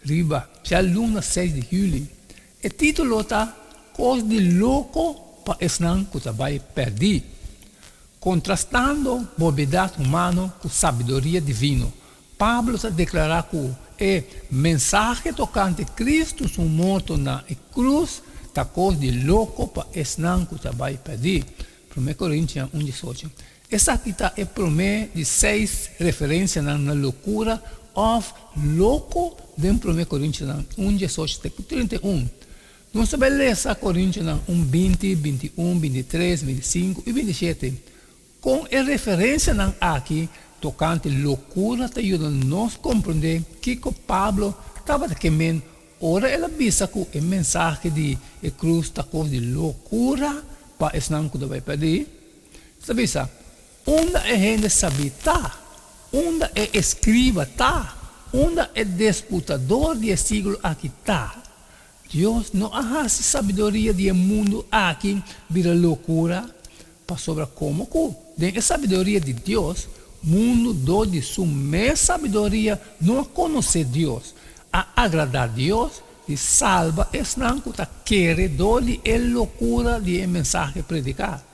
Riba djaluna seis di huli. E titulo ta Cos di loco pa esnan cu ta bay perdi, contrastando bobedad humano cu sabiduria divino. Pablo ta declara cu e mensahe tocante Cristo su morto na e cruz ta cos di loco pa esnan cu ta bay perdi, Primer Corintian un diesocho. Esaki ta e promé di seis referensianan na lokura òf loko den Promé Korintianan un diesocho te ku trinta i un. Nos ta bai lesa Korintianan un binti, binti i un, binti i tres, binti i sinku i binti i shete. Kon e referensianan aki tokante lokura ta yuda nos komprondé kiko Pablo tabata ke men ora el a bisa ku e mensahe di e krus ta kos di lokura pa esnan ku ta bai pèrdí? Ta bisa, Unda e hende sabí ta? Unda e eskriba ta? Unda e desputador di e siglo aki ta? Dios no a hasi sabiduria di e mundu aki bira lokura, pasobra komo ku den e sabiduria di Dios mundu dor di su mes sabiduria no a konosé Dios, a agradá Dios di salba esnan ku ta kere dor di e lokura di e mensahe prediká.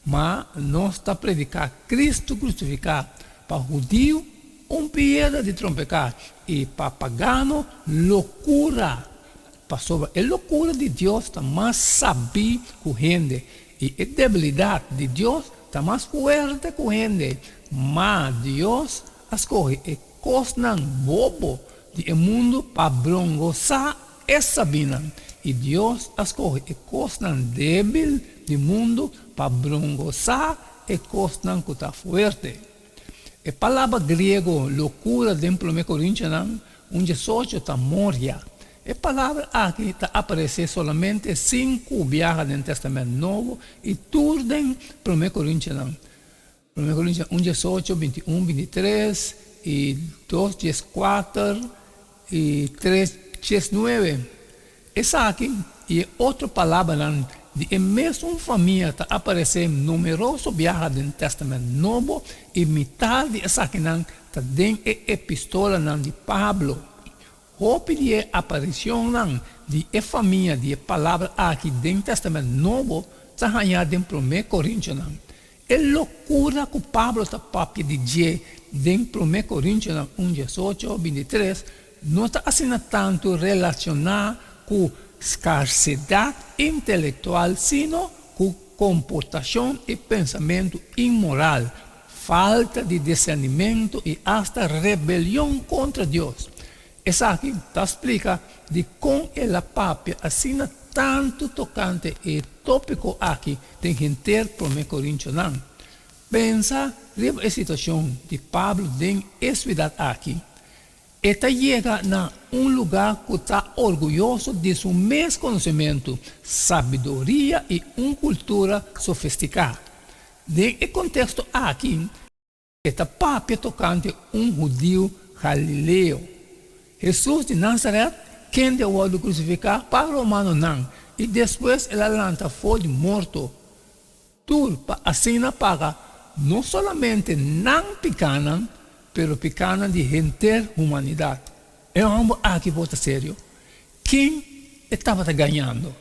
Ma nos ta prediká Kristu krusifiká pa hudiu un piedra di trompeká i pa pagano lokura, pasobra e lokura di Dios ta mas sabí ku hende i e debilidat di Dios ta mas fuerte ku hende. Ma Dios a skohe e Kosnan bobo di e mundu pa brongosá e sabinan, i Dios a skohe e kosnan débil di mundu pa brongosá e kosnan ku ta fuerte. E palabra griego lokura den Promé Korintianan un diesocho ta morhia. E palabra aki ta aparesé solamente sinku biaha den Tèstamènt Nobo i tur den Promé Korintianan. Prome Korintia un dies ocho, binti un, binti tres, i dos dies kuater, i tres dies nuebe. Esaki i e otro palabranan di e mesun famia ta aparesé numeroso biaha den Tèstamènt Nobo, i mitá di esakinan ta den e epistolanan di Pablo. Hopi di e aparicionnan di e famia di e palabra aki den Tèstamènt Nobo ta hañá den Prome Korintianan, E locura cu Pablo ta papia di dje den Prome Corintianan un diesocho, bintitres, no ta asina tantu relaciona cu scarcedad intelectual sino cu comportacion y pensamentu inmoral, falta di discernimento y asta rebelion contra Dios. Esaki ta splika di kon el a papia asina tantu tokante e tópiko aki den henter Promé Korintionan. Pensa riba e situashon di Pablo den e suidat aki. E ta yega na un lugá ku ta orguyoso di su mes konosementu, sabiduria i un kultura sofestiká. Den e konteksto aki. E ta papia tokante un hudiu galileo, Hesus di Nasaret, kende a wòrdu krusifiká pa romanonan i despues el a lanta for di morto tur pa asina paga no solamente nan pikánan, pero pikánan di henter humanidat. E hòmber aki por ta serio? Ken e tabata gañando?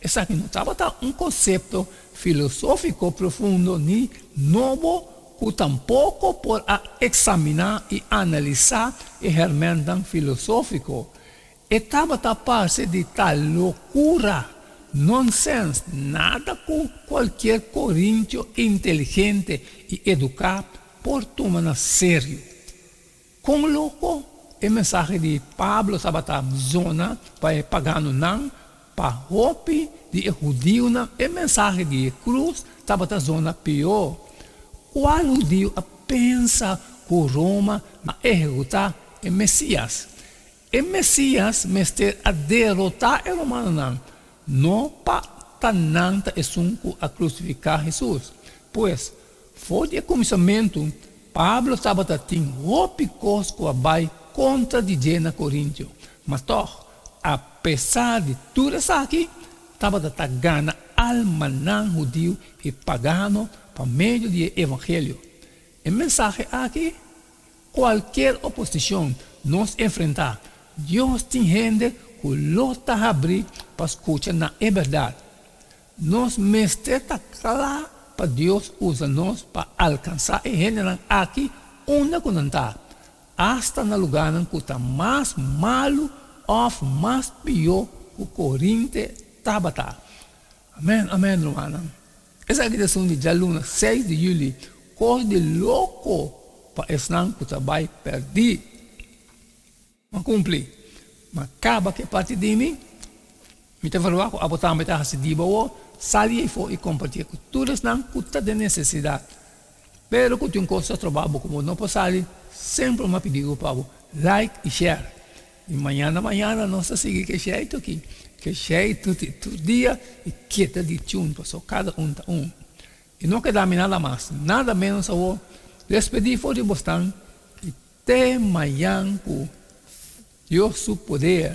Esaki no tabata un konsepto filosófiko profundo ni nobo ku tampoko por a eksaminá i analisá e hèrmèntan filosófiko. E tabata parse di ta lokura, nonsens, nada ku kualkier korincho inteligente i eduká por tuma na serio. Kon loko e mensahe di Pablo tabata bzona pa e paganonan! Pa hopi di e hudionan e mensahe di e krus tabata bzona pió. Kual hudio a pensa ku Roma na ehekutá e Mesías? E Mesias mester a derotá e romanonan, no pa ta nan ta esun ku a krusifiká Hesus. Pues, for di e kuminsamentu, Pablo tabata tin hopi kos ku a bai kontra di dje na Korintio. Ma tòg, apesar di tur esaki, tabata ta gana almanan hudiu i pagano pa medio di e evangelio. E mensahe aki Cualkier oposicion nos enfrenta, Dios tin hende cu lo ta habri pa scucha na e berdad. Nos mester ta cla pa Dios usa nos pa alcansa e hendenan aki unda cu nan ta, asta na lugarnan cu ta mas malu of mas pio cu Corinte tabata. Amen amen rumannan esaki ta esun di djaluna seis di juli kos di loko pa esnan ku ta bai perdí a kumpli ma kaba ke parti di mi mi ta verua ku abo tambe ta hasi diba awor sali efo i kompartia ku tur esnan ku ta den nesesidat pero ku tin kos ta troba bo ku bo no por sali semper un mapidiko pa bo like i share Di mañana mañana nos ta sigui ke sheitu aki, ke sheitu di tur dia i ke ta di chun paso kada un ta un. I no keda mi nada mas, nada menos awo. Despedi for di bosnan i te mayan ku Dios su poder.